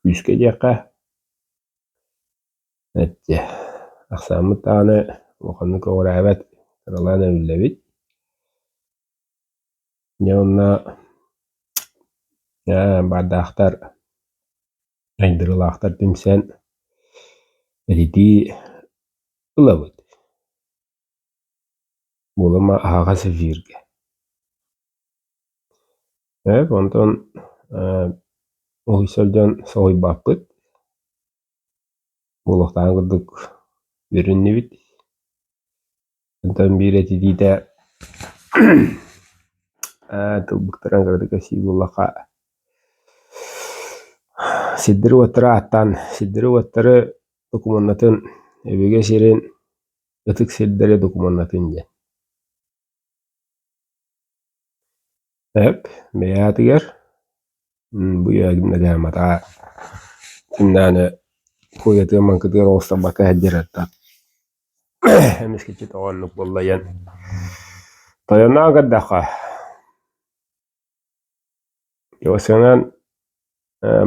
Күүскэ диэххэ, эттэ ахсааммыт даҕаны улаханнык оҕураабат, кыралаан эбиллэбит. Дьэ онно ээ баардаахтар, айдырылаахтар тимсэн, ититии ылабыт. Уолума аһаҕас эфиргэ. Эп онтон ээ ол сылдьан соһуйбаппыт. Олохтоох курдук үөрүннүбүт. Онтон биир этитиитэ ээ тылбыттарын кыратык кэпсиир буоллахха сирдэрэ уоттара ааттаан сирдэрэ уоттары докумуоннатын өбүгэ сирин Ытык сирдэри докумуоннатыҥ диэн Эп бэйээтигэр бу матаа кинилэни куйатыгар-маҥкытыгар оҕустарбакка сылдьар аттар эмискэччи тоҕо оннук буолла диэн тойоноон көрдөххө Васянан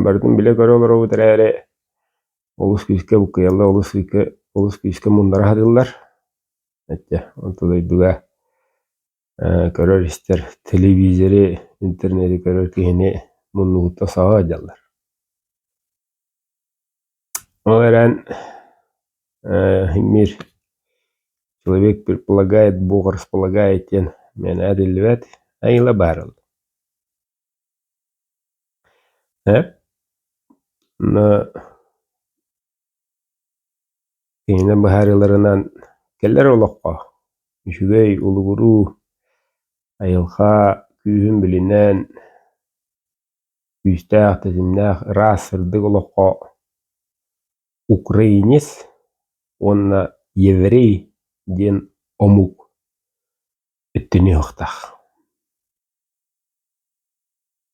барытын билэ көрө олоробут эрээри олус күүскэ буккуйаллар, олус күүскэ олус күүскэ муннара сатыыллар. Ачча онто дойдуга көрөр-истэр телевизори, интернети көрөр киһини муннугуттан саҕа сылдьаллар. Ол эрэн мир человек предполагает бог располагает диэн миэнэ этиллибэт айыыла баар ол ээ но кинини быһаарыыларынан кэлэр олоххо үчүгэй улугуруу айылҕа күүһүн билинэн Күүстээх, тэтимнээх, ыраас, сырдык олоххо украинец уонна еврей диэн омук өттүнүөхтаах.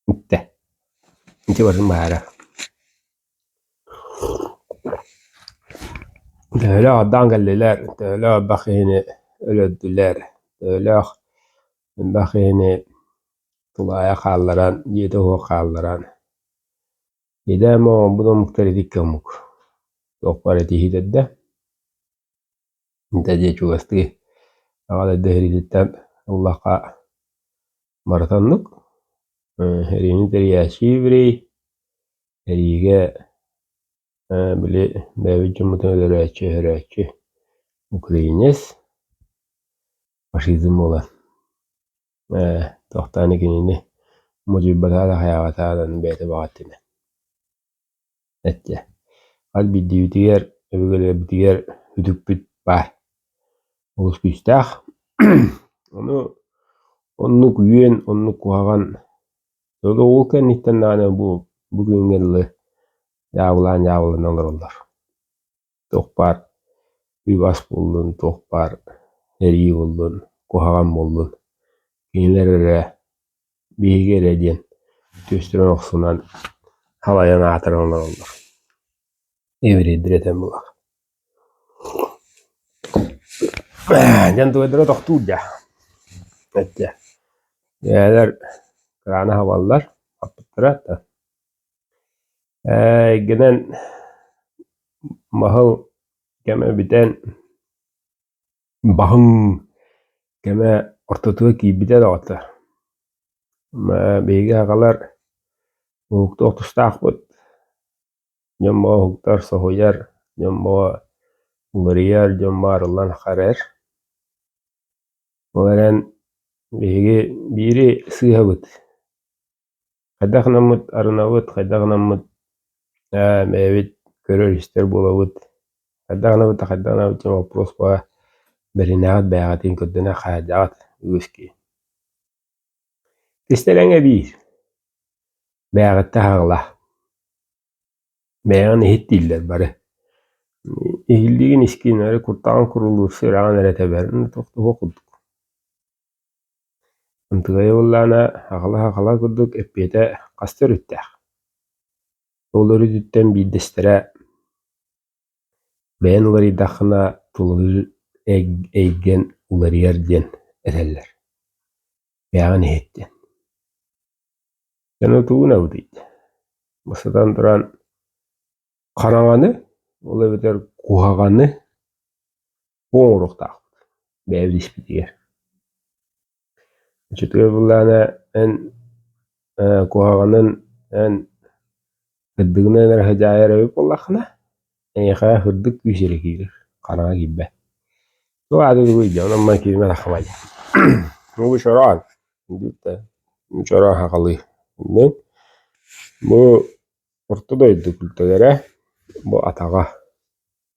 Итэ. Ити барын баара. Төһөлөөх адаан кэллилэр, төһөлөөх элбэх киһини өлөрдүлэр, төһөлөөх элбэх киһини тулаайах хаалларан, дьиэтэ суох хаалларан, идээм оҥорбут омуктар итиккэ омук, туохпар этиһиит эрдэ, интэ дьиэ чугастыы Аҕа дойду сэриититтэн улахха маратоннук, эриини тэрийээччи еврей, эриигэ били бэйэбит дьоммутун өлөрөөччү, өһөрөөччү украинец, фашизм буолан. Ээ, тохтоон кинини модьуйбатаан аһайаабатаҕын аны бэйэтэ баҕаттыына эттэ хас биирдиибитигэр өбүгэлэрбитигэр үтүкпүт баар олус күүстээх ону оннук үөн оннук куһаҕан сотору ол кэнниттэн даҕаны бу бу күҥҥэ дылы дьаабылаан дьаабылана олороллор туох баар үб-ас буоллун, туох баар эрии буоллун, куһаҕан буоллун, кинилэр эрэ, биһиги эрэ диэн түөстэрин охсунан халайан аатыран олороллор. Эврейдэр этэн булар. Дьэн тугайдара тохтуур дьа. Этчэ. Дьээлэр кыраана хабаллар, хаппыттара та. эйгэнэн маһыл кэмэ бүтэн баһыҥ кэмэ ортотуга киирбитэ доҕоттор биһиги аҕалар уһуктуох тустаахпыт дьон боо уһуктар соһуйар дьон боо уларыйар дьон баарыллан харар ол эрэн биһиги биири сыыһабыт Хайдах гынаммыт арынабыт, хайдах гынаммыт ээ бэйэбит көрөр-истэр буолабыт, хайдах гынабыт да хайдах гынабыт диэн боппуруоспаҕа бэринээҕит бэйэҕитин көрдөнө хаһайдаҕыт үгүскүү. Тистэлэҥэ биир, бэйэҕиттэн аҕала. Бэйэҕин иһит дииллэр бары. Иһиллиигин искин эрэ куртаҕын курулуурса үрэҕин эрэ тэбэр, туох курдук. Ынтыгай Уоллаана аҕала-аҕала курдук эппиэтэ хас да өрүттээх, ол өрүтүттэн биирдэстэрэ «Бэйэн уларыйдаххына тулуйу эйгэн уларыйар» диэн этэллэр, бэйэҕин иһит диэн. Дьоно тугун эбитий? Бу сытан туран хараҥаны, ол эбэтэр куһаҕаны оҥоруохтаахпыт бэйэбит испитигэр Ачытыгар былаана эн э, куһаҕанын эн кырдыгынан эрэ садьаайар эбит буоллаххына эйиэхэ һырдык күүс эрэ киирэр хараҥа киирбэт туох ааты дугуй дьэ онон май киирмэтэххэ дьэ ну бу чороон диэттэ чороон хахалыы иннин бу орто дойду күлтэлэрэ бу атаҕа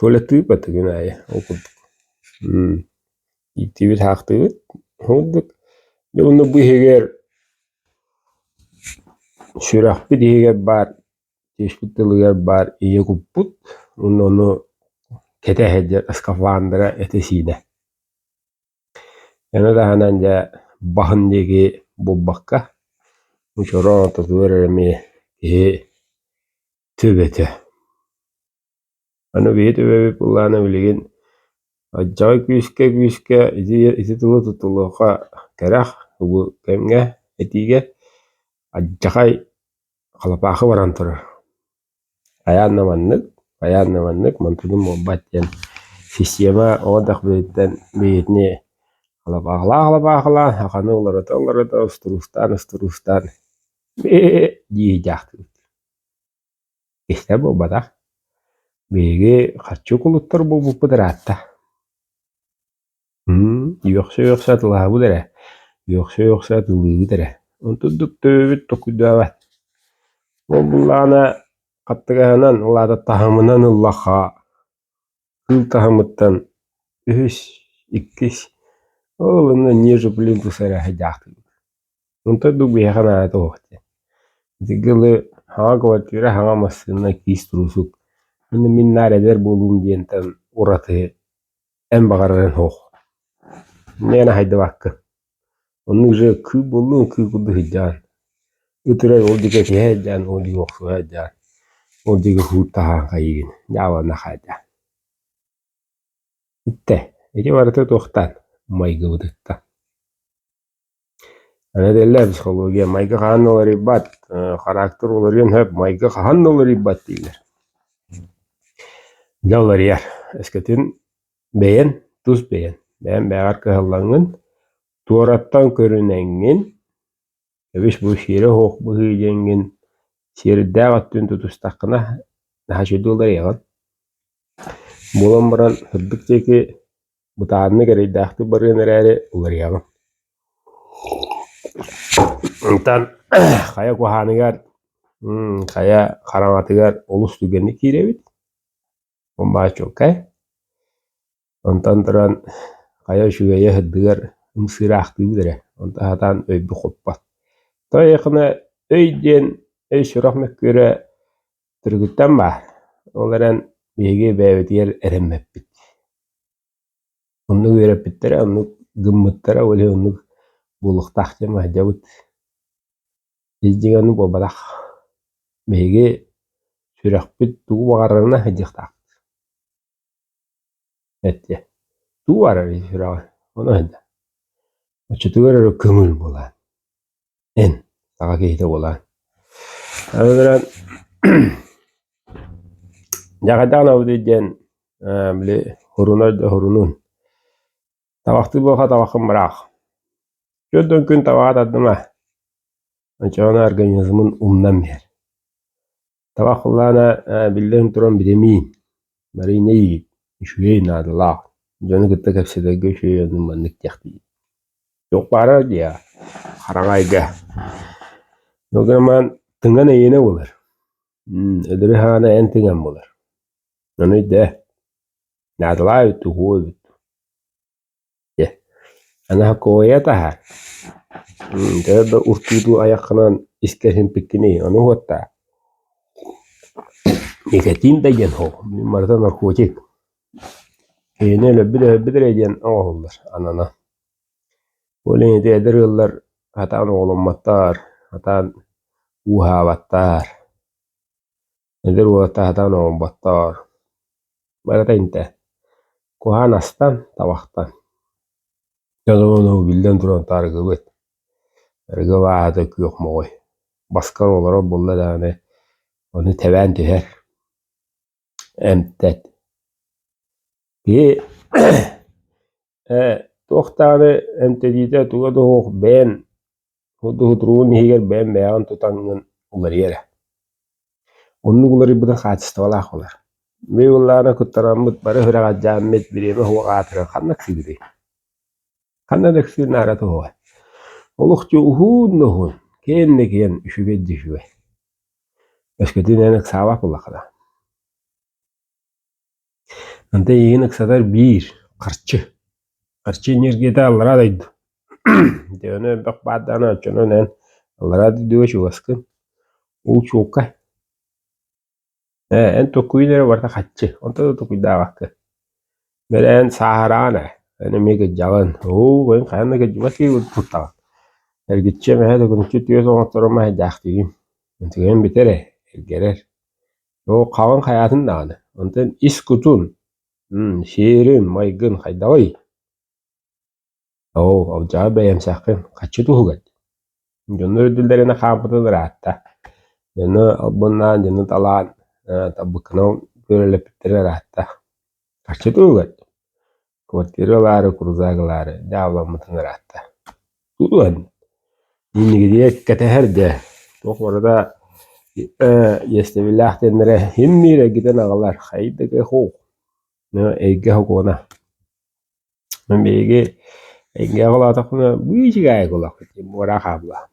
Коля тыыппат күн аайы ол курдук ииктиибит хаахтыыбыт ылбыт дьэ онно бу иһигэр сүрэхпит иһигэр баар тиэспит тылыгар баар ийэ куппут уонна ону кэтэ сылдьар скафандра этэ-сиинэ аны таһынан дьэ баһын диэки булбакка очороо тотугар эрэ эмиэ киһи төбөтө Аны биһи төбөбүт былаана билигин алдьархай күүскэ-күүскэ ити ити тылы тутулуохха кэрэх тугу кэмҥэ этиигэ алдьархай халапаахы баран турар. Хайаан да маннык, хайаан да маннык мантыбын буолбат диэн система оҕо эрдэхпититтэн бэйэтини халапаахалаан-халапаахалаан хаханы уларыта-уларыта устуруустаан-устуруустаан дии дьаахтыбыт. Истэ буолбатах, биһиги харчы кулуттар буолбуппут ыраатта үөхсэ-үөхсэ атылаһабыт эрэ, үөхсэ-үөхсэ атылыыбыт эрэ, онтурдук төбөбүт токуйдубат. Ол буллаҕына хаттыгаһынан, улаататтаһымынан ыллахха Кыыл таһымыттан үһүс, иккис, ол онно ниже блин тус эрэ садьаахтыыбыт. Онтон дук биһиэхэ наада туох диэн. Итинки ыла саҥа кыбартыыра, саҥа массыына, киис туруусук манна мин наар эдэр буолуум диэнтэн ураты эн баҕарарын суох. Иннинэ хайдыбаккын Оннук дьэ кыыл буоллун кыыл курдук сылдьаҕын, ыт эрэр ол диэки этиһэ сылдьаҕын, ол диэки охсуһа сылдьаҕын, ол диэки кууртаһаан хайыыгын, дьаабылана хаалдьа. Итэ ити барыта туохтан? Майгыбытыттан. Аны этэллэр психология майгы хаһан да уларыйбат, характер уларыйан сөп, майгы хаһан да уларыйбат дииллэр. Дьэ уларыйар, өскөтүн Бэйэн, тус бэйэн. Бэйэн бэйэҕэр кыһаллаҥҥын, туораттан көрүнэҥҥин, эбис бу сиэрэ-суох быһыы диэҥҥин, сиэрдээх өттүн тутустаххына, наһаа үчүгэй уларыйаҕын. Буолан баран сырдык диэки бытааннык эрэйдээхтик барыан эрээри уларыйаҕын. Онтон хайа куһааныгар, хм, хайа хараҥатыгар олус түгэнник киирэбит. баачулкай онтон туран хайа үчүгэйэ сырдыгар ымсыыраахтыыбыт эрэ онто сатаан өйбү хоппот то өй диэн өй сурах мөккүөрэ түргүттэн баар ол эрэн биһиги эбээбитигэр эрэммэппит оннук үөрэппиттэрэ оннук гыммыттара ол иһин оннук буолуохтаах диэн махтанабыт Илдьигэни буолбатах, биһиги сүрэхпит тугу баҕарарына сылдьыахтаах эттэ Тугу баҕарарый сүрэҕи? Ону ыйда Оччотугар эрэ көҥүл буолаан, эн саха киһитэ буолаан. Аны туран дьэ хайдах гынабытый диэн били хоруна да хорунун табахтыы буолха табаххын быраах Түөртөн күн табаҕа тардыма оччоҕуна организмын умнан иһэр табах кыллаана биллэн туран битэмиин барыйна иит үчүгэй наадалаах дьону кытта кэпсэтэргэ үчүгэй ону маннык диэхтии туох баарар диэ хараҥайга дограман тыҥан эйиэнэ буолар өлөрү хаана эн тыҥан буолар ону өйдөө наадалаабыт уһуубут дьэ Анакоя таһа төбө да уртуутуу айаххынан искэһин пиккиний ону уоттаа никотин да диэн оһох мин барыта наркотик киһини өлөрбүт өлөрбүт эрэ диэн оҥоһуллар анана ол иһин ити эдэр ыаллар сатаан оҕоломмоттоор сатаан ууһаабаттар Эдэр уолаттар сатаан оҥорботтоор, барыта интэ, куһаҕан астан, табахтан. Дьонум ону биллэн туран утары арыгыбыт, арыгы абааһыта күөх моҕой, баска олорор буолла даҕаны, ону тэбээн түһэр, эмтэт. Киһи Ээ, туох даҕаны эмтэниитэ туга да суох бэйэн худуһутуруун иһигэр бэйэм бэйэҕин тутаҥҥын уларыйар ээ. Оннук уларыйбыта хаачыстыбалаах буолар. Мин ыллаана куттанаммыт бары сүрэҕэлдьээммит бириэмэ суох аатырар ханна кыыгытый? Ханна да кыыр наара туһугай. Олох дьэ уһуун да уһуун, киэн да киэн, үчүгэй да үчүгэй. Өскөтүн эн ыксаабат буоллахха да. Ante эйигин ыксатар биир харчы. Харчы энергията аллараа дойду. Дөөнө элбэх баар даҕаны оччонон эн аллараа дойдуга чугаскын. Уу чуукка. Ээ, эн токкуйун эрэ барыта харчы. Онто да токуйдаабакка. Бэрэ эн сааһыраан ээ. Эн эмиэ кырдьаҕын. Оо, эн хайан да кырдьыбат киһи куртуттаҕын. Эргиччи эмэһэ, төкүнүччү түөс оҥотторо маһы дьаахтыыгын. Эн түгэҥ бүтэр ээ, эргэрэр. Оо, хаҕын хайаатын даҕаны, онтон ис кутун, м сиэрин, майгын хайдаҕый? Оо, алдьаҕа бэйэмсэххин, хаччы туһугар дии. Дьоно үрдүллэринэ хаампытын ыраатта. Дьоно албыннаан, дьоно талаан, э, табыккынан күөлэлэппиттэрэ ыраатта. Хаччы туһугар дии. квартира ылаары, крузак ылаары дьаабыламмытын ыраатта. Тулуан, иннигитигэр кэтэһэр дэ, туох барыта иэстэбиллээх диэннэрэ һиммиир эргитэн аҕалар, хайдык ыхуу, эйгэ һокуона. Мин биһиги эйгэҕэ улаатахпына быычыгаайык олохпут диэн муора хаалла.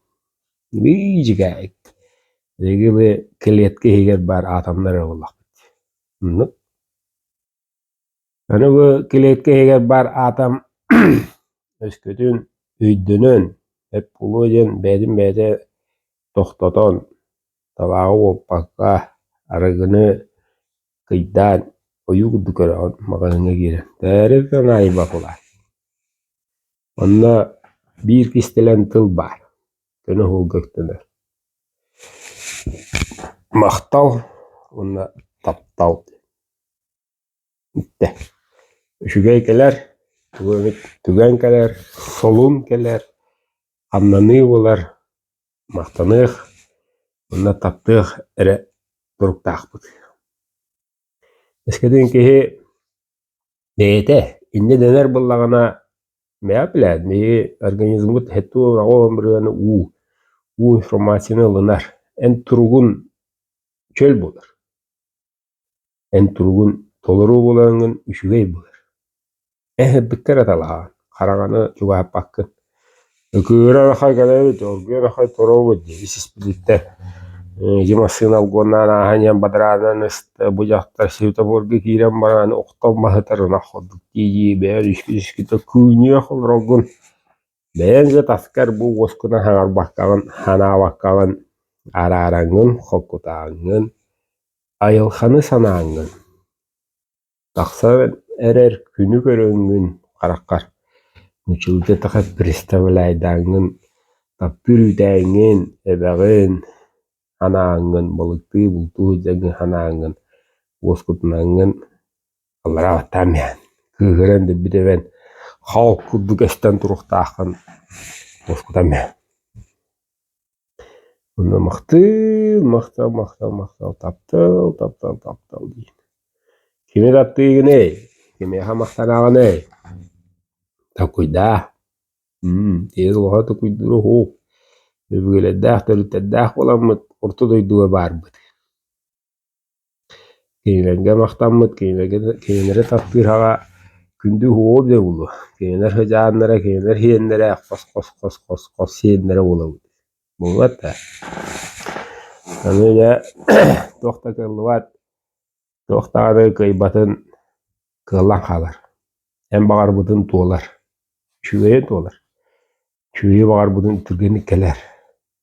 Быычыгаайык. Биһиги бу клетка иһигэр баар атомнар ыллахпыт. Оннук. Өрөгө килиэткэ иһигэр баар аатам өскөтүн өйдөнөн, эп буолуо диэн бэйэтин бэйэтэ тохтотон, табааҕы уоппакка, арыгыны кыйдаан, ойуу курдук көрөҕүн, маҕаһыыҥҥа киирэн тээри да наайбат улаат. Онно биир кистэлэҥ тыл баар, көнө оһуолга өктөнөр. Махтал уонна таптал. Иттэ: «Үчүгэй кэлэр, тугу эбит түгэн кэлэр, солун кэлэр, хамнаныы буолар, махтаныах уонна таптыах эрэ туруктаахпыт» Эскэтин киһи бэйэтэ иннэ дэнэр буоллаҕына бэйэҕит билээт биһиги организммыт һэт-уот-аҕа ымырыаны уу, уу информацияны ылынар, эн туругун чөл буолар. Эн туругун толоруу буолаҥҥын үчүгэй былыр, эн сырдыкка эрэ талаһаҕын, хараҥаны чугаһаппаккын, ыкыыра арахай гынай эбит, оргуйа арахай торообут диэн испитииттэр ити массыына алгоннаан ааһан иһэн бадраанынан ыста, бу дьахтар светофорга киирэн бараан охтон маһытар ынах курдук дии-дии бэйэҥ үскү-үскүтэ кыынньыах олороргун Бэйэн дьэ таскар бу уоскуна саҥарбаккаҕын, санаабаккаҕын, араараҥҥын, холкутааҥҥын, айылханы санааҥҥын. Тахсан эрэр күнү көрөҥҥүн хараххар, мүччүгүтэ таха представляйдааҥҥын, таптыыр үүтээҥҥин, эбэҕин санааҥҥын, балыктыы бултуу сылдьаргын санааҥҥын, уоскутунаҥҥын. Ылларан аттаам иһэн, кыыһыран эрбит эбэн, хал курдук эстэн туруохтааххын мускутам иһэн. Онно махтыыр, махтал, махтал, махтал, таптал, таптал, таптал диин. Кими таптыыгыный? Кимиэхэ махтанаҕыный? Такуйдаа. Тиэс олоҕо тукуйдуура уһуук. Өбүгэлэрдээх, төрүттэрдээх буоламмыт орто дойдуга баарбыт. Кинилэргэ махтаммыт, кинилэри тардыһаҕа күндү уһуоҕу билэ буолуо, кинилэр сыдьааннара, кинилэр сиэннэрэ хос-хос-хос-хос сиэннэрэ буолабыт буолбат да? Аны дьэ туох да кыаллыбат, туох даҕаны кыайбатын кыаллан хаалар, эн баҕарбытын туолар, үчүгэйи туолар, үчүгэйи баҕарбытын түргэнник кэлэр.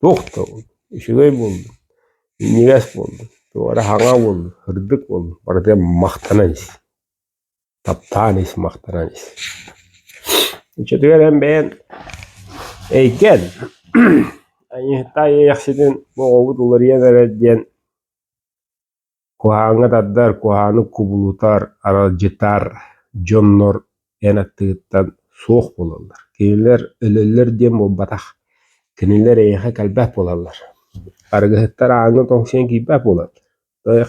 Тохтобун, үчүгэй буоллун, минньигэс буоллун, туора хаҥа буоллун, сырдык буоллун, барытыгар махтанан ис, таптаан ис, махтанан ис. Иччитигэр эн бэйэн эйгэн Аньыыһыттаа Иэйэхситин оҕобут уларыйан эрэр диэн Куһааҥҥа тардар, куһаҕаны кубулутар, аралдьытар дьоннор эн аттыгыттан суох буолаллар. Кинилэр өлөллөр диэн буолбатах. Кинилэр эйиэхэ кэлбэт буолаллар. Арыгыһыттар ааҥҥа тоҥсуйан киирбэт буолаллар.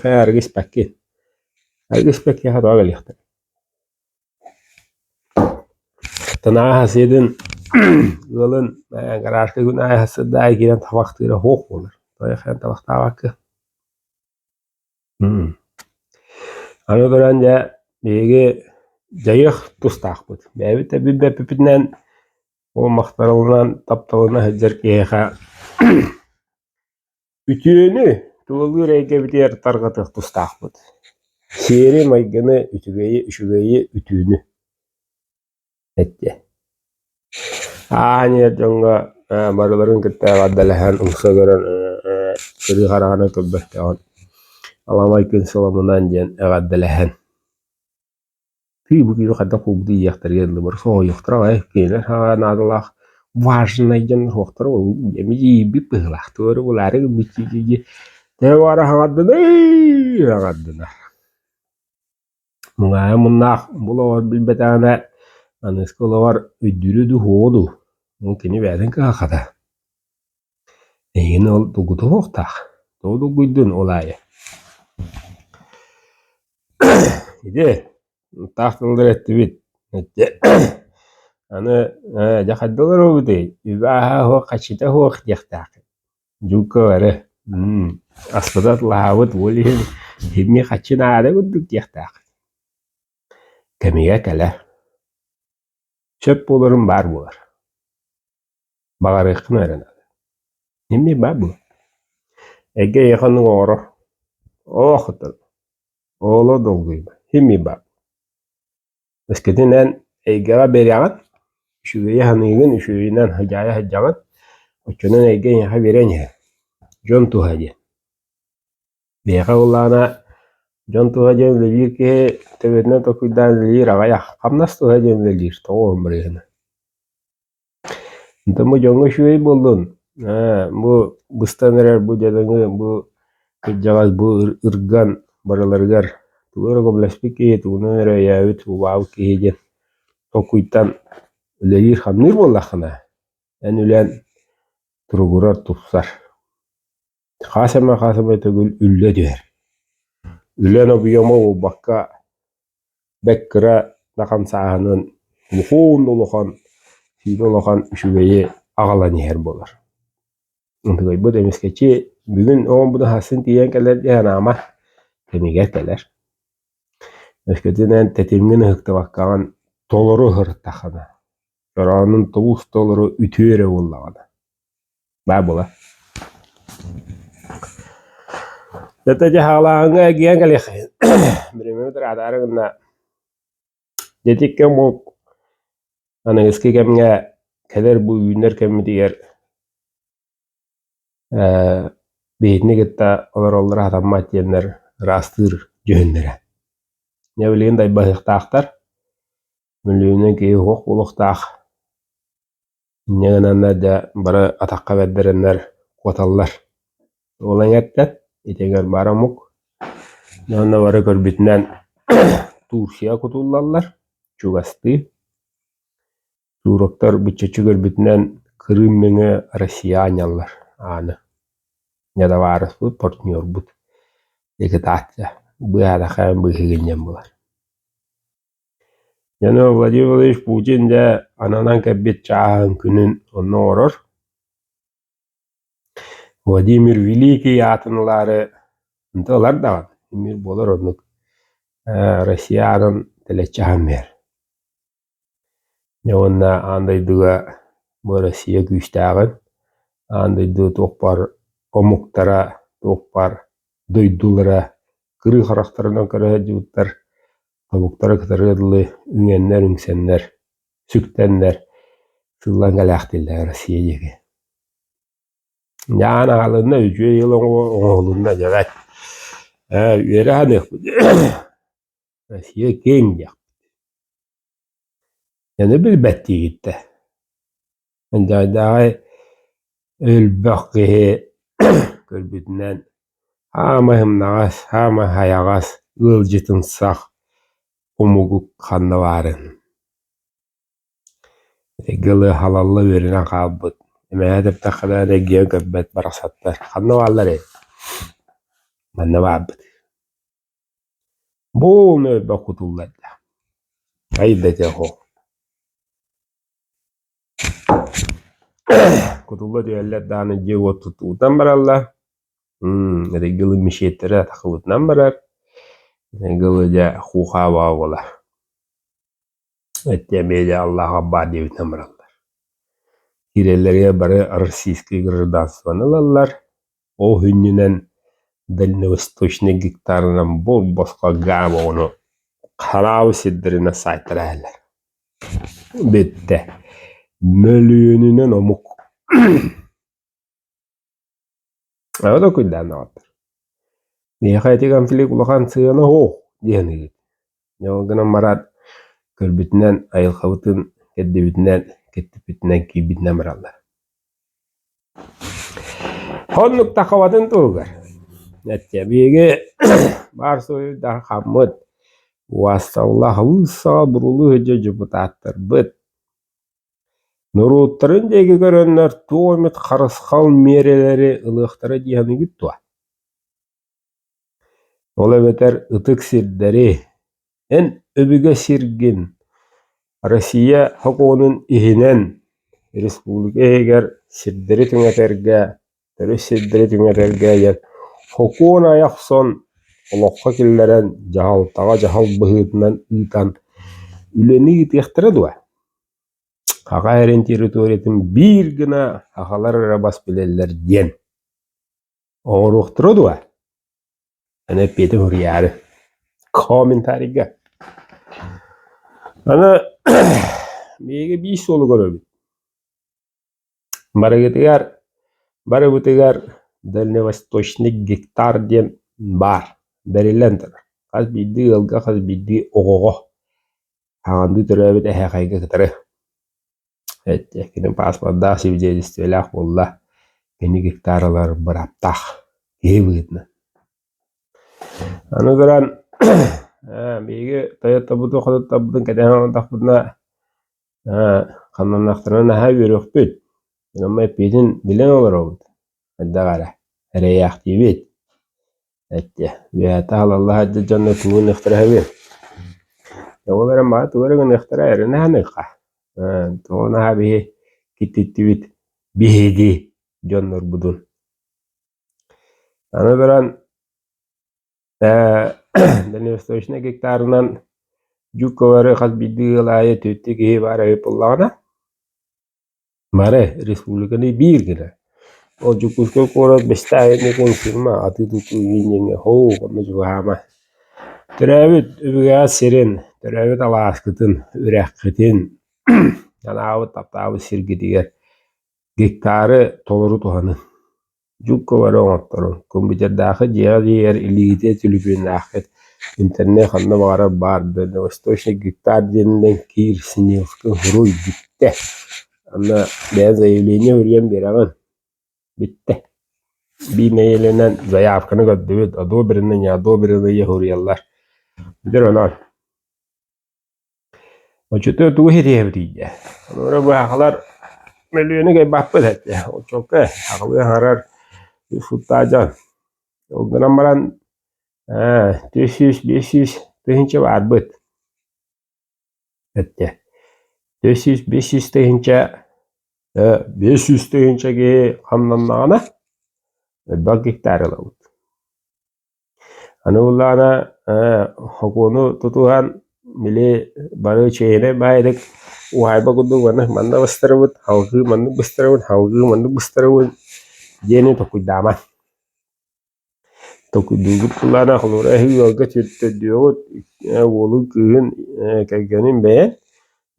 Һы, арыгы испэккин. Арыгы испэк киэһэ тоҕо кэлиэхтэй Танаа аһасыытын ыалын гаражка күн аайы аһассыт да аайы киирэн табахтыыра оһуох буолар. Тоҕо хайан табахтаабакка. Аны туран дьэ биһиги дьайыах тустаахпыт. Бэйэбит да билбэппитинэн ол махталынан тапталына сылдьар киһиэхэ Үтүөнү, тулалыыр эйгэбитигэр тарҕатыах тустаахпыт. Сиэри, майгыны, үчүгэйи, үчүгэйи, үтүөнү эттэ. Ааһан иһэр дьоҥҥо э, барыларын кытта эҕэрдэлэһэн, умса көрөн э, кырыы хараҕаны көрбөттөҕүн, аламай күн соломунан диэн эҕэрдэлэһэн Тыы бу киһи хайдах куубутуй диэхтэригэр ыллыбар соһуйуохтара аҕай кинилэр саҕа наадалаах важнай дьон суохтара ол эми тиийбит быһыылаахтык өрө булаары гыммыт дии дии дии тэҥэ баара саҥардынай саҥардынар муҥаайа муннаах бу олоҕор билбэтэҕинэ аныыска олоҕор өйдүүрэ дуу суоҕа дуу ол кини бэйэтин кыһа хата Эйигин ол долгутуһуохтаах, тоҕо долгуйдун ол аайы Ити таах тыллары эттибит эттэ аны ээ дьэ хайдалар буолбутуй үбааһа суох хачыта суох диэхтээххин дьука бары мм аспыта атылаһаабыт уол иһин иһимии хаччы наада курдук диэхтээххин кэмигэр кэлэ сөп буоларым баар буолар Баҕарыаххына эрэ наада. Эмиэ баар буолуо. Эгэ эйиэхэ оннук оҥорор. Оохотон. Ооло долгуйба. Химии баар. Эскитинэн эйгэҕэ бэриэҕин, үчүгэйи саныыгын, үчүгэйинэн хадьаайа сылдьаҕын, оччонон эйгэ эйиэхэ биэриэн иһин. Дьон туһа диэн. Биһиэхэ былаана дьон туһа диэн үлэлиир киһи төбөтүнэн толкуйдаан үлэлиир аҕай. Хамнас туһа диэн үлэлиир. Тоҕо бу барыыһына? Да бу дьоҥҥо үчүгэй буоллун, ээ бу быстан эрэр бу дьадаҥы бу кырдьаҕас бу ырган барыларыгар тугу эрэ көмөлөспүт киһи тугунан эрэ өйөөбүт убаабыт киһи диэн толкуйтан үлэлиир-хамныыр буоллаххына, эн үлэн туругурар, тупсар. хас эмэ хас эмэ төгүл үлэ түһэр. Үлэн объема буолбакка, бэккыра да хамсааһынын мукуун да улахан, сиинэ улахан үчүгэйи аҕалан иһэр буолар. Утугайбыт эмискэчи бүгүн оҕом быдаһасын тиийэн кэлэр дии санаама, кэмигэр кэлэр. Өскөтүнэн тэтимҥин ыһыктыбаккаҕын толору ыһыртаххына, дороонун тулус толору үтүө эрэ буоллаҕына. Баа була. Тете дьаһаалааһыҥҥа эргийэн кэлиэххин. Биримэм тыраатаары гынна. Дьэтиккэ мук аныгыскы кэмҥэ кэлэр бу үүннэр кэммитигэр ээ биһитини кытта олороллоро сатаммат диэннэр ыраастыыр дьүһүннэрэ. Дьэ билигин дайбаһыахтаахтар. Өлүөнэ киһи уһук олохтоох инньэ гынаннар да бары атахха бэрдэрэннэр куоталлар. Ол эҥэртэн итигэр бары омук уонна бары көрбүтүнэн Турция кутуллаллар, чугастыы. Туроктар быччаччы көрбүтүнэн Крым нөҥө Россия анньаллар ааны. Недовараспыт партнербут. Ликвидация быһаатаха быыһыгынньан булар. Янов Владимирович Путин дьэ ананан кэлбит чааһын күнүн онно олорор Владимир Великий аатын ылаары онто ылар даҕаны эмиир буолар оннук ээ Россия аанын тэлэччи аһан биһэр дьэ уонна аан дойдуга бу Россия күүстээҕин аан дойду туохпар омуктара туохпар дойдулара кырыы харахтарынан көрө сылдьыбыттар, тобуктара кытарыа дылы, үҥэннэр үҥсэннэр, сүктэннэр, сыллан кэлээхтииллэр Россия диэки. Ян аҕалынна, үтүө yıl оҥоһулунна дьэбэт. Ээ, үөрэ саныахпыт. Россия киэҥ диэх. Яны билбэттиигиттэ. Дьайдаҕай өлбөх киһи көрбүтүнэн саамай умнаҕас, саамай хайаҕас ыалдьытымсах омугу ханна баарын эйгэ ылыһалалла үөрэнэн хаалбыт эмээхи эттэххинэ эрэгийиэн көрбөт барахсаттар ханна баалларай манна баарбыт Бу ууну элбэх кутуллар да, хайда этэ оһо кутулла түһэллэр даҕаны дьиэ-уот туттубутунан бараллар мм этэй гылы мечеттэрэ тахсыбытынан барар этэй гылы дьэ хуухаабаҕа буолар Эти эмиэ Аллаһаҕа баар диэбитинэн бараллар. Киирэллэригэр бары российскай гражданствоны ылаллар. Ол сүнньүнэн дальневосточнай гектарынан бос-босхо гаарб оҕону хараабы сирдэринэн саайтара иһэллэр. Бүттэ. Мөлүйүөнүнэн омук Эбэ докуйдаан даҕаттар. Миэхэ ити конфликт улахан сыана оһо диэн ыыт. Дьэ ол гынан бараат көрбүтүнэн айылҕабытын кэрдибитинэн кэттиппитинэн киирбитинэн бараллар. Оннук таххабатын туһугар эттэ биһиги баар суруйуурдаах хаммыт уасталла халыыс саҕа бурулуу сылдьар депутаттарбыт Норуоттарын диэки көрөннөр туох эмит харысхал миэрэлэри ылыахтара дии саныыгыт дуо? Ол эбэтэр ытык сирдэри, эн өбүгэ сиргин Россия сокуонун иһинэн республика иһигэр сирдэри түҥэтэргэ Төрүт сирдэри түҥэтэргээйэр Сокуон айа охсон, олоххо киллэрэн, дьаһалтаҕа дьаһал быһыытынан ыытан үлэни ыытыахтара дуо? Саха эрин территориятын биир гына сахалар эрэ бас билэллэр диэн. Оҥоруохтара дуо? Аны эппиэтин суруйаары. Комментарийга. Аны биһиги биир суолу көрөбүт. Барыгытыгар, барыбытыгар дальневосточник гектар диэн баар, бэриллэн турар. Хас биирдии ыалга, хас биирдии оҕоҕо хаҥандыы төрөөбүт эһээхэйгэ кытары кини пааспордаах, свидетельстволаах буолла, кини гектар ылар бырааптаах киһи быһыытынан. Аны туран биһиги Toyota-бутун-хотуттабытын кэтэһэн олордохпутуна Ээ, хамнаннахтарына наһаа үөрүөхпүт, онон эппиэтин билэн олоробут, хайдах эрэ, эрэйээхтиибит, эттэ, үөһэтэ аһылалла сылдьар дьонно тугу гыныахтара үһүбүн, ол эрэн маны тугу эрэ гыныахтара эрэнэ саныахха, ээ, тоҕо наһаа биһи киттиттибит биһиги дьоннорбутун, аны туран Дальневосточнай гектарынан жук көбөрү хас биирдии ыал аайы түөртүү киһи баара ыйытыллаҕына бары республиканы биир гына ол Дьокуускай куорат Бэстээйини кэҥсимэ атыы-тутуу диэҥҥэ һоу онно чугаһаама төрөөбүт Өбүгэ сирин төрөөбүт алааскытын үрэххитин анаабыт таптаабыт сиргитигэр гектары толору туһаныҥ Дьук-бары оҥотторон, компьютердаахы дьиэҕэ тиийэр илиитэ түлүпүөннээххит, интернет ханна баҕарар баар да «Дальневосточный гектар» диэнинэн киирсинилка уруйбүттэ. Манна бэйэм заявление суруйан биэрэҕин. Бүттэ. Биир нэйиэлэнэн заявканы көрдөбүт, одобрено, неодобренные суруйаллар. Дьэ, онон Оччотугар тугу ситиһэбитий дии? Холобура быһахылар мөлүйүөнү кайбаппыт этэ. Оччоко аҕылыы аҥарар ушуттаадьан. Ол гынан баран ээ түөрт сүүс биэс сүүс тыһыынча баарбыт эттэ. Түөрт сүүс биэс сүүс тыһыынча ээ биэс сүүс тыһыынча киһи хамнаннаҕына элбэх гектар ылабыт. Аны буллаҕына окууну тутуһан били бары чэйинэй баайдык уһаайба курдук уонна манна быстарабыт алгыы маннык быстарабын алгыы маннык быстарабын диэни толкуйдаама. Толкуйдуубут буллаҕына холобура эһиги ыалга төрдүөҕүт уолуҥ кыыһын кэргэнин бэйэн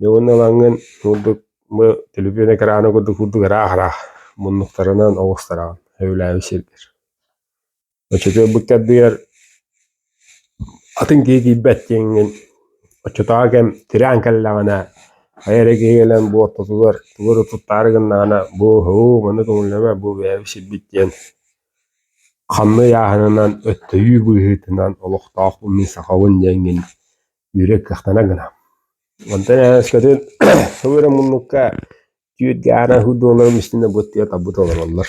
дьэ уонна ылаҥҥын курдук бу төлөпүөнэ кыраана курдук курдук ыраах-ыраах муннуктарынан оҕустараҕын сөбүлээбит сиргэр. Оччотугар кэрдийэр атын киһи тиийбэт диэҥҥин оччотооҕу кэм тирээн кэллэҕинэ хайа эрэ киһи кэлэн буортутугар тугу эрэ туттаары гыннаҕына бу һуу маны көҥүллэмэ бу бэйэм сирбит диэн ханна ыйааһынынан өттөйүү быыһыытынан олохтоох бу мин сахабын диэҥҥин үүрэр кыахтана гынам онтон өскөтүн сылы эрэ муннукка түүт гаара һуу долларым истинэ бу тиэ табыт олороллор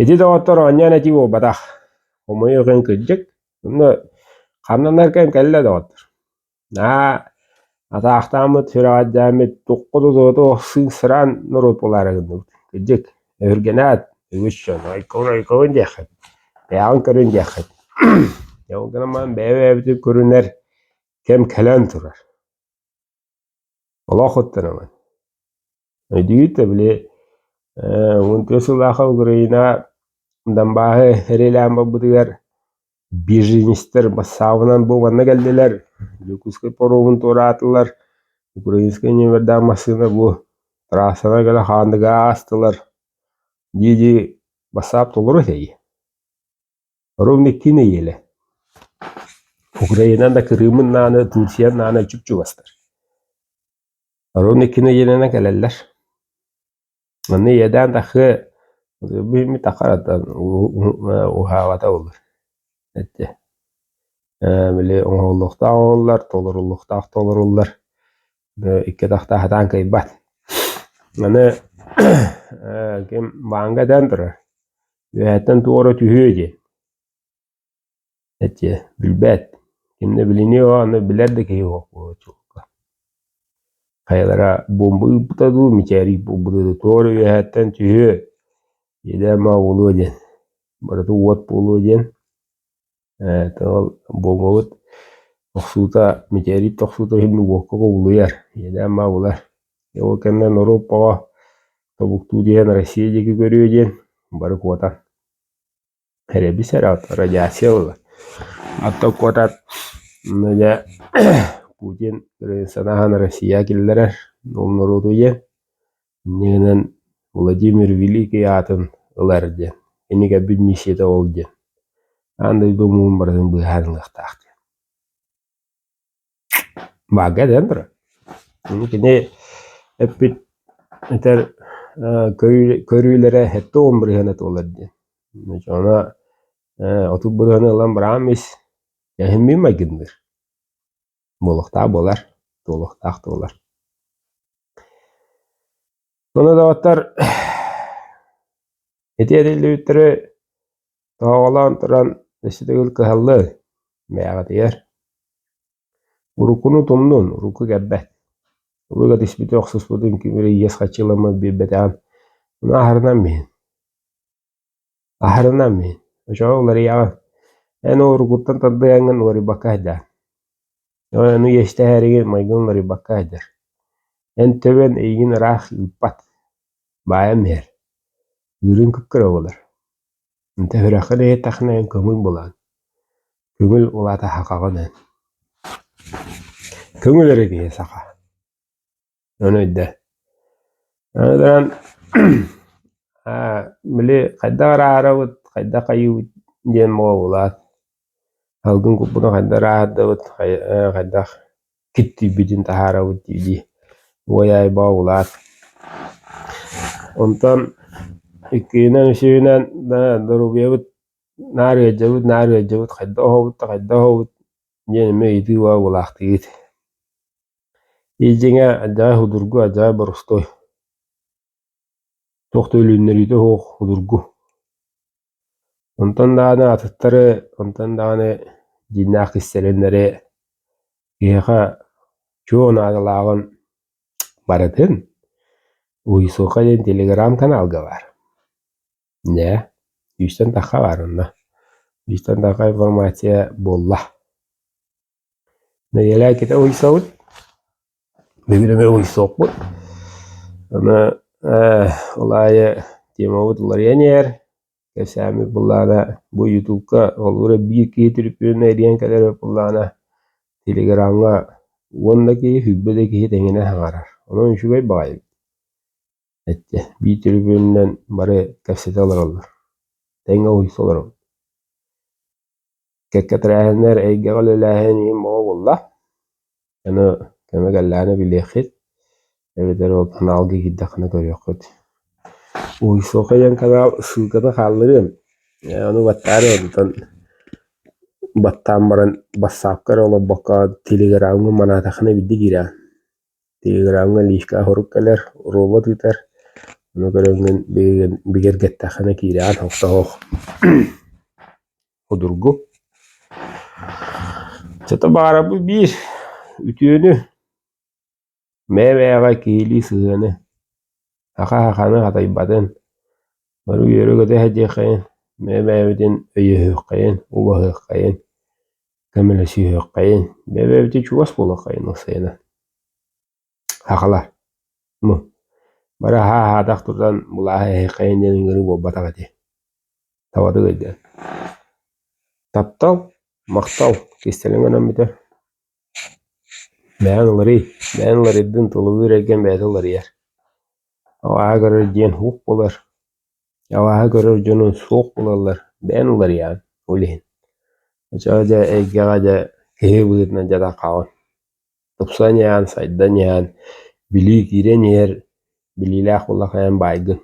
Ити доҕоттор оонньоон этии буолбатах. Хомойуох иһин кырдьык, онно хамнанарган кэллэ доҕоттор. Наһаа атаахтааммыт, сүрэҕэлдьээммит, тухку да утуоту охсыысыран норуот буолаары гынныбыт. Кырдьык, өһүргэнээт, үгүс дьон ойкобун ойкобун диэххит, бэйэҕин көрүн диэххит. Ол гынан баран бэйэ-бэйэбитин көрүнэр кэм кэлэн турар. Олох уттанабын. Өйдүүр да били э, уон төрт сыллааҕы Украина Донбаһы эриэлээн барбытыгар беженецтэр бассаабынан буоланна кэллилэр, Якутскай поруобун туораатылар, Украинскай номердаах массыына бу трассаны кэлэ хаанныга аастылар. Дии-дии бассаап толору этэй? Оруҥ икки нэһиэлэ Украинан да кырыымын нааны Турция наана чуп-чугастар Оруҥ икки нэһиэлэнэн кэлэллэр Манна иэдээн тахыа Биммит ахаратан Уһаабата боллур Эттэ Били оҥоһуллуохтаах оҥоһуллар Толоруллуохтаах толоруллар икки атахтаах хатаан кыайбат. Аны ким бааҥга дээн турар, үөһэттэн туох эрэ түһүө диэн. Эчи билбэт, ким да билиниэ аны билэр да киһи суох буолуочука. Хайалара бомба ыыппыта дуу, мичээрий буолбута дуу, туох эрэ үөһэттэн түһүө, идэ ама буолуо диэн, барыта уот буолуо диэн Ээтэ ол буолуобут охсуута мичээрийбит охсуута иһин уокка кубулуйар, иэдээн-баа булар. Ол кэннэ норуот оҕо тобуктуу диэн Россия диэки көрүө диэн бары куотан эрэбис эрэ радиация ылла. Оттон куотан дьэ Путин санаһан Россия киллэрэр ол норуоту диэн иннигинэн Владимир Великий аатын ылар диэн, кинигэбит миссията ол диэн, аан дойду омугун барытын быыһаанылыахтаах диэн. Баага дээн турар. Кини эппит этэр көрүүлэрэ хэттэ он бырыһыана туолар диэн. Она отут бырыһыаны ылан быраам ис эһиммин майгынныыр. Буолуохтаах буолар, туолуохтаах туолар. Олодоҕоттор ити этиллибиттэрэ тоһоҕолоон туран өссүтүгүл кыһаллыы, бэйэҕитигэр уруккуну тумнун, урукку кэлбэт. Тугу кэтиспити охсуспутун кимири иэс хаччыламмыт билбэтэҕин, мунааһарынан иһин. Аһарынам мин, очоҕо уларыйаҕын, эн уругуттан тардыһаҥҥын уларыйбакка айдаан. Ону иэстэһээриги майгыҥ уларыйбакка айдар. Эн төбөн эйигин ыраах ыыппат, баайан иһэр, ыырыын кыккыра буолар. Төһүрэххин иһиттэхинэ эн көҥүл булаҕын, көҥүл улаатаһахаҕын эн. Көҥүл эрэ киһи саха Ону өйдө. Аны туран били хайдах эрэ ааһарабыт, хайдах айыыбыт диэн моҕобулаат, салгын куппуна хайдах эрэ ааһардабыт, хайдах киттийбитин таһаарабыт дии-дии угай аайы бообулаат. Онтон иккиһинэн, үсүһүнэн доруобуйабыт наар ыалдьабыт, наар ыалдьабыт, хайдах оһобут да хайдах оһобут диэн эмиэ ыйытыы бообулаахтыыгыт. Ии-дьиҥэ, адьаай судургу, адьаай боростуой. Туох да өлүннэриитэ суох судургу. Онтон даҕаны атыттары, онтон даҕаны дьиҥнээх кистэлэҥнэри киһиэхэ чуо наадалааҕын барытын Уйсуха диэн телеграм-каналга баар. Дьэ, бүүстэн тахха баар онно. Бүүстэн тахха информация буолла. Нэдиэлэкитэ уйсабыт, бүгүн эмэ уйсуохпут. Аны э ол аайы темабыт уларыйан кэпсээммит былаана бу ютубка холобура биир киһи түрпүөнэ ириэн кэлэр эбит былаана телеграмҥа уонна киһи, сүүрбэ да киһи тэҥинэ саҥарар. Онон үчүгэй баҕайы. эттэ «Бии түрбүөнүнэн бары кэпсэтэ олороллор, тэҥ уһуйса олоробут Кэккэ тэрээһиннэр эйгэҕэ үлэлээһин миин бөҕө буолла, ону кэмэ кэллэҕинэ билиэххит эбэтэр ол каналга киирдэххинэ көрүөххүт Уһуйсуохха диэн канал ссылката хаалларыам ону баттаары онтон баттаан баран бассаапка эрэ олорбокко телеграмҥа манаатаххына биирдэ киирэҕин Телеграмҥа лиишкэ аһорук кэлэр, робот ыытар, ону көрөҥҥүн бигэргэн бигэргэттэххинэ киирээҕин хостоһох судургу. Зато баарабыт биир үтүөнү, бэйэ-бэйэҕэ киһилии сыһыаны Саха сахабын хатайбатын, бары үөрэ көтө сэтиэххэйин, бэйэ-бэйэбитин өйөһүөххэйин, убаһыаххайын, көмөлөсүһүөххэйин, бэйэ-бэйэбитин чугас буолуоххайын ыксайынан. Сахалар ну бары аһаатах тутан булааһы эһэххэйин диэн ыҥырыы буолбатах этэ. Табатык өйдөөн. Таптал, махтал кистэлэҥ өлөн бүтэр. Бэйэҥ уларый, бэйэҥ уларыйдын, тулалыыр эргин бэйэтэ уларыйар. Алааһы көрөр дьиэн суох буолар, алааһы көрөр дьону суох буолаллар, бэйэҥ уларыйаҕын ол иһин. Оччоҕо дьэ эйгэҕэ дьэ киһи быһыытынан дьадаҥ хаалан, тупсан иһэн, сайдан иһэн, билии киирэн иһэр, билиилээх улахайан баайгын.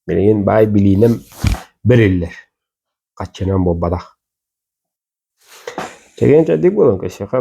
Билигин баай билиинэн бэриллэр, хаччынан буолбатах. Чэгиэн-чэбдик буолан кэсиэхэ